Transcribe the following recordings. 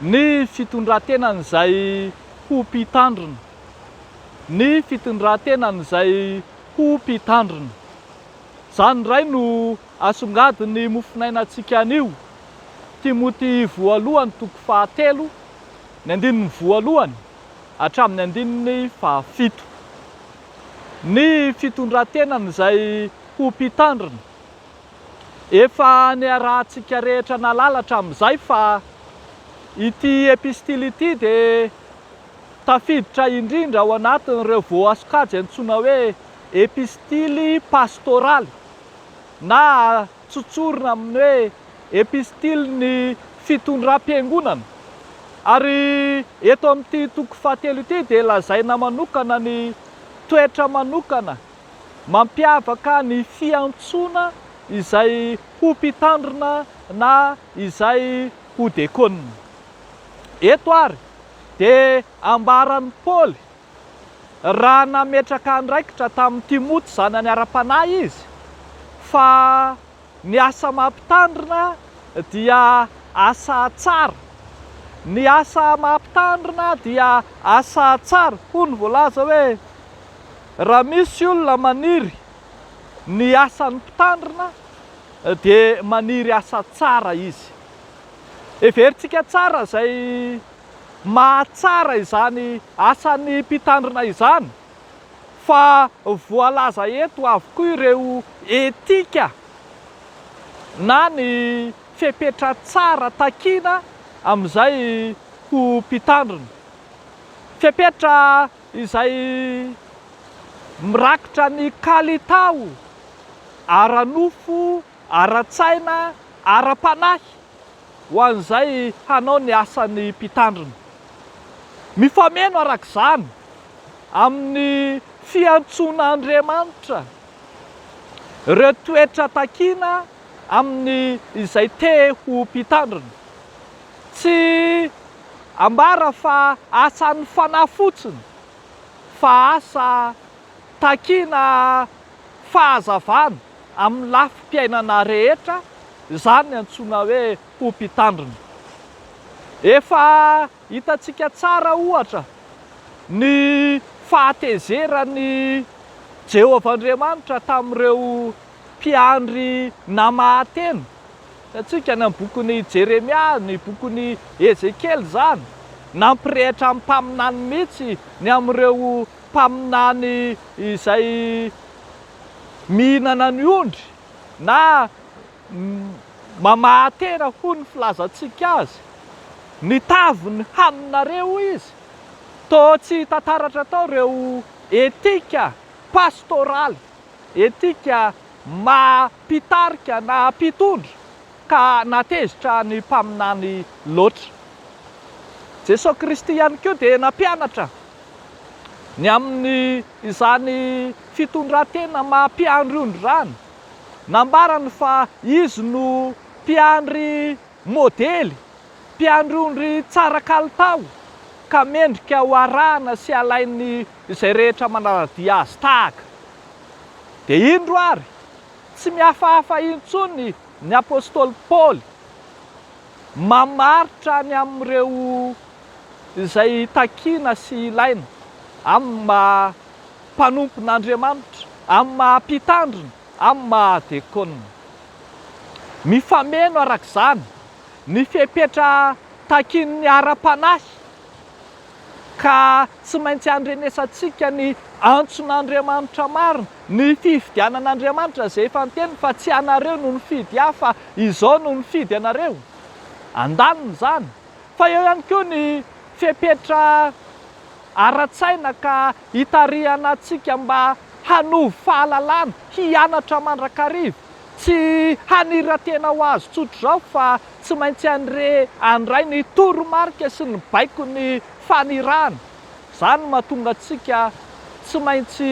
ny fitondran-tenan'izay ho mpitandrina, ny fitondran-tenan'izay ho mpitandrina. Izany indray no asongadin'ny mofonainantsika anio, Timoty voalohany toko fahatelo, ny andininy voalohany hatramin'ny andininy fahafito. Ny fitondran-tenan'izay ho mpitandrina. Efa niarahantsika rehetra nahalala hatramin'izay fa ity epistily ity dia tafiditra indrindra ao anatin'ireo voasokajy antsoina hoe epistily pastoraly na tsotsorina amin'ny hoe epistilin'ny fitondram-piangonana. Ary eto amin'ity toko fahatelo ity dia lazaina manokana ny toetra manokana mampiavaka ny fiantsoana izay ho mpitandrina na izay ho dekonina. Eto ary dia ambaran'i Paoly, raha nametraka andraikitra tamin'i Timoty zanany ara-panahy izy, fa. Ny asa maha mpitandrina dia asa tsara. Ny asa maha mpitandrina dia asa tsara. Hoy ny voalaza hoe, Raha misy olona maniry ny asan'ny mpitandrina dia maniry asa tsara izy. Heverintsika tsara izay maha tsara izany asan'ny mpitandrina izany. fa voalaza eto avokoa ireo etika na ny fepetra tsara takiana amin'izay ho mpitandrina. Fepetra izay mirakitra ny kalitao ara-nofo, ara-tsaina, ara-panahy. ho an'izay hanao ny asan'ny Mpitandrina. Mifameno araka izany amin'ny fiantsoan'Andriamanitra ireo toetra takiana amin'ny izay te ho Mpitandrina. Tsy ambara fa asan'ny Fanahy fotsiny fa asa takiana fahazavana. amin'ny lafim-piainana rehetra izany antsoina hoe ho mpitandrina. Efa hitantsika tsara, ohatra, ny fahatezeran'i Jehovah Andriamanitra tamin'ireo mpiandry namaha-tena. Hitantsika any amin'ny bokin'i Jeremia, ny bokin'i Ezekiela izany. Nampirehitra amin'ny mpaminany mihitsy ny amin'ireo mpaminany izay. mihinana ny ondry na mamahatena hoy ny filazantsika azy, ny taviny haninareo hoy izy, toa tsy hita taratra tao ireo etika pastoraly, etika maha mpitarika na mpitondra ka natezitra ny mpaminany loatra. Jesoa Kristy ihany koa dia nampianatra ny amin'ny Izany fitondran-tena maha mpiandry ondry izany, nambarany fa izy no mpiandry modely, mpiandry ondry tsara kalitao ka mendrika ho arahana sy alain'ny izay rehetra manara-dia azy tahaka. Dia indro ary, tsy mihafahafa intsony ny apostoly Paoly. Mamaritra ny amin'ireo izay takiana sy ilaina, amin'ny maha mpanompon'Andriamanitra, amin'ny maha mpitandrina, amin'ny maha dekôna. Mifameno, araka izany, ny fepetra takian'ny ara-panahy. ka tsy maintsy andrenesantsika ny antson'Andriamanitra marina, ny fifidianan'Andriamanitra izay efa niteniny fa tsy ianareo no nifidy ahy fa izaho no nifidy anareo. Andaniny izany. Fa eo ihany koa ny fepetra ara-tsaina ka itarihana antsika mba hanovo fahalalana, hianatra mandrakariva, Tsy haniran-tena ho azy tsotra izao fa tsy maintsy any re andray ny toromarika sy ny baikon'ny fanirahana. Izany no mahatonga antsika tsy maintsy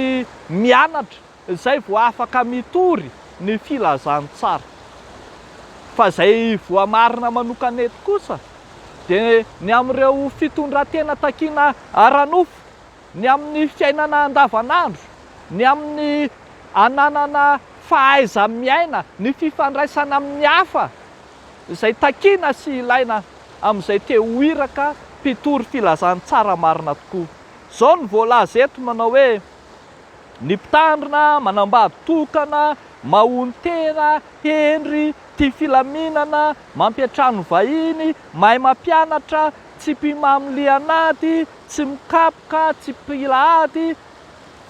mianatra izay vao afaka mitory ny filazantsara. Fa izay voamarina manokana eto kosa dia ny amin'ireo fitondran-tena takiana ara-nofo ny amin'ny fiainana andavanandro, ny amin'ny ananana fahaiza-miaina, ny fifandraisana amin'ny hafa, izay takiana sy ilaina amin'izay te ho iraka mpitory filazantsara marina tokoa. Izao no voalaza eto manao hoe, Ny mpitandrina manambady tokana, maonon-tena, hendry, tia filaminana, mampiantrano vahiny, mahay mampianatra, tsy mpimamo lian'ady, tsy mikapoka, tsy mpila ady,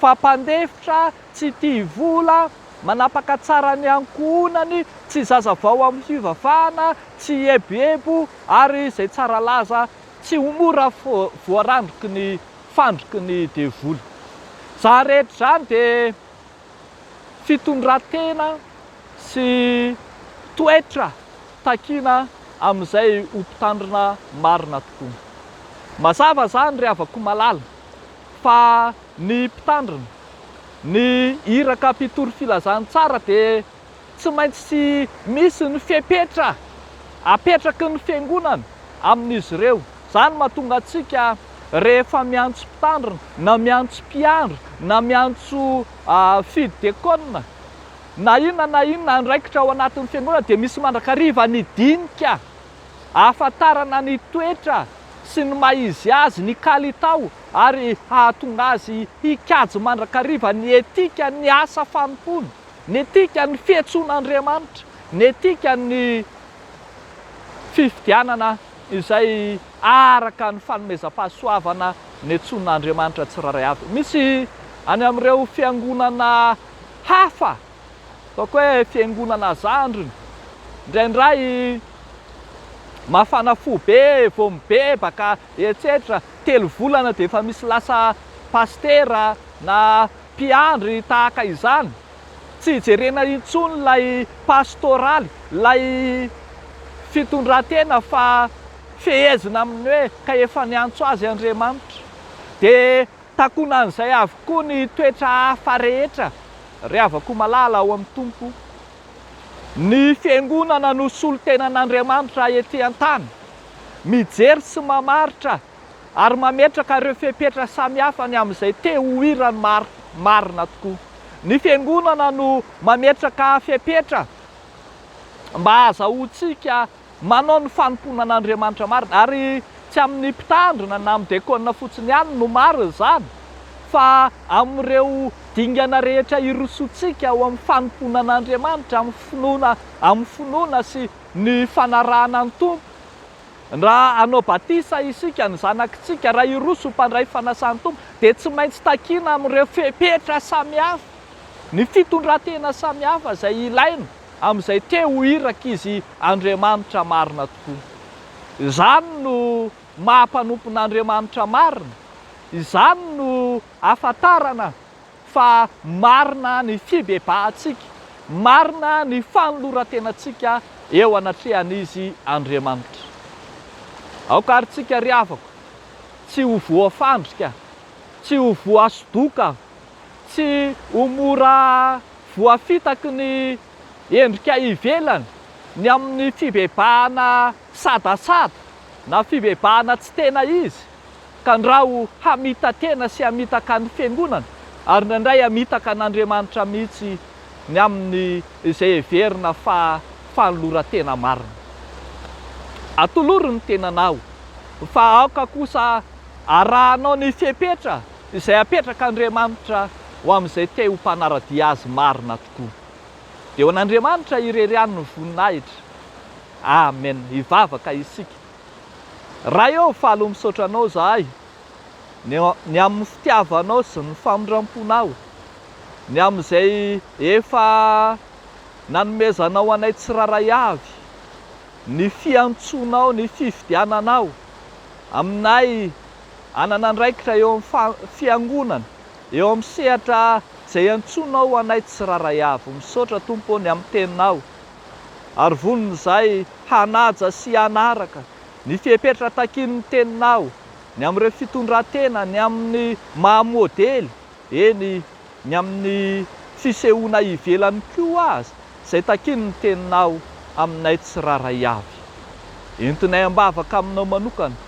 fa mpandefitra, tsy tia vola, manapaka tsara ny ankohonany, tsy zaza vao amin'ny fivavahana, tsy eboebo, ary izay tsara laza, tsy ho mora voarandriky ny fandriky ny devoly. Izany rehetra izany dia. fitondran-tena sy toetra takiana amin'izay ho mpitandrina marina tokoa. Mazava izany ry havako malala fa ny mpitandrina, ny iraka mpitory filazantsara dia. Tsy maintsy misy ny fepetra apetraky ny Fiangonana amin'izy ireo. Izany no mahatonga antsika rehefa miantso mpitandrina, na miantso mpiandry, na miantso fidy dekôna, na inona na inona andraikitra ao anatin'ny Fiangonana dia misy mandrakariva ny dinika ahafantarana ny toetra sy ny maha izy azy, ny kalitao ary hahatonga azy hikajy mandrakariva ny etika ny asa fanompoana. Ny etika ny fihetsoan'Andriamanitra, ny etika ny fifidianana izay araka ny fanomezam-pahasoavana nihetsoan'Andriamanitra tsirairay avy. Misy any amin'ireo fiangonana hafa, ataoko hoe fiangonana zandriny, indraindray mafana fo be vao mibebaka etsetra, telo volana dia efa misy lasa pasitera na. Mpiandry tahaka izany, tsy jerena intsony ilay pastoraly, ilay fitondran-tena fa fehezina amin'ny hoe ka efa niantso azy Andriamanitra. Dia takonan'izay avokoa ny toetra hafa rehetra, ry havako malala ao amin'ny Tompo. Ny Fiangonana no solontenan'Andriamanitra ety an-tany, mijery sy mamaritra ary mametraka ireo fepetra samihafa ny amin'izay te ho hiran'ny maro, marina tokoa. Ny Fiangonana no mametraka fepetra mba hahazahoantsika manao ny fanompoana an'Andriamanitra marina, ary tsy amin'ny mpitandrina na amin'ny dekona fotsiny ihany no marina izany, fa amin'ireo dingana rehetra irosoantsika ao amin'ny fanompoana an'Andriamanitra amin'ny finoana, amin'ny finoana sy ny fanarahana ny Tompo. Raha hanao batisa isika, ny zanakitsika, raha hiroso ho mpandray fanasan'ny Tompo, dia tsy maintsy takiana amin'ireo fepetra samihafa, ny fitondran-tena samihafa izay ilaina amin'izay te ho irak'izy Andriamanitra marina tokoa. Izany no maha mpanompon'Andriamanitra marina. Izany no ahafantarana fa marina ny fibebahantsika, marina ny fanoloran-tenantsika eo anatrehan'Izy Andriamanitra. Aoka àry isika ry havako tsy ho voafandrika, tsy ho voasodoka, tsy ho mora voafitaky ny endrika ivelany ny amin'ny fibebahana sadasada na fibebahana tsy tena izy, Tandraho hamita-tena sy hamitaka ny Fiangonana ary indraindray hamitaka an'Andriamanitra mihitsy ny amin'ny izay heverina fa fanoloran-tena marina. Atoloro ny tenanao fa aoka kosa arahanao ny fepetra izay apetrak'Andriamanitra ho amin'izay te ho mpanara-dia Azy marina tokoa. Dia ho an'Andriamanitra irery ihany ny voninahitra. Amen! Hivavaka isika. Ray ô faly ho misaotra anao zahay ny ny amin'ny fitiavanao sy ny famindramponao ny amin'izay efa nanomezanao anay tsiraray avy ny fiantsoanao ny fifidiananao aminay hanana andraikitra eo amin'ny fiangonana eo amin'ny sehatra izay iantsoanao anay tsiraray avy misaotra Tompo ô ny amin'ny teninao Ary vonona izahay hanaja sy hanaraka ny fepetra takian'ny Teninao ny amin'ireo fitondran-tena ny amin'ny maha modely, eny, ny amin'ny fisehoana ivelany koa aza, izay takian'ny Teninao aminay tsirairay avy. Entinay am-bavaka Aminao manokana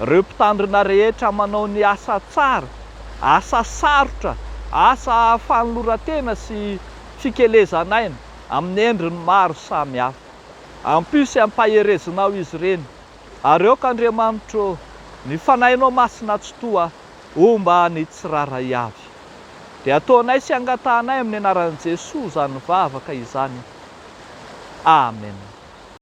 ireo Mpitandrina rehetra manao ny asa tsara, asa sarotra, asa fanoloran-tena sy fikelezan'aina, amin'ny endriny maro samy hafa. Ampio sy ampaherezinao izy ireny, ary aoka Andriamanitro ô, ny Fanahinao Masina Tsitoha homba ny tsirairay avy. Dia ataonay sy angatahanay amin'ny anaran'i Jesoa izany vavaka izany. Amen.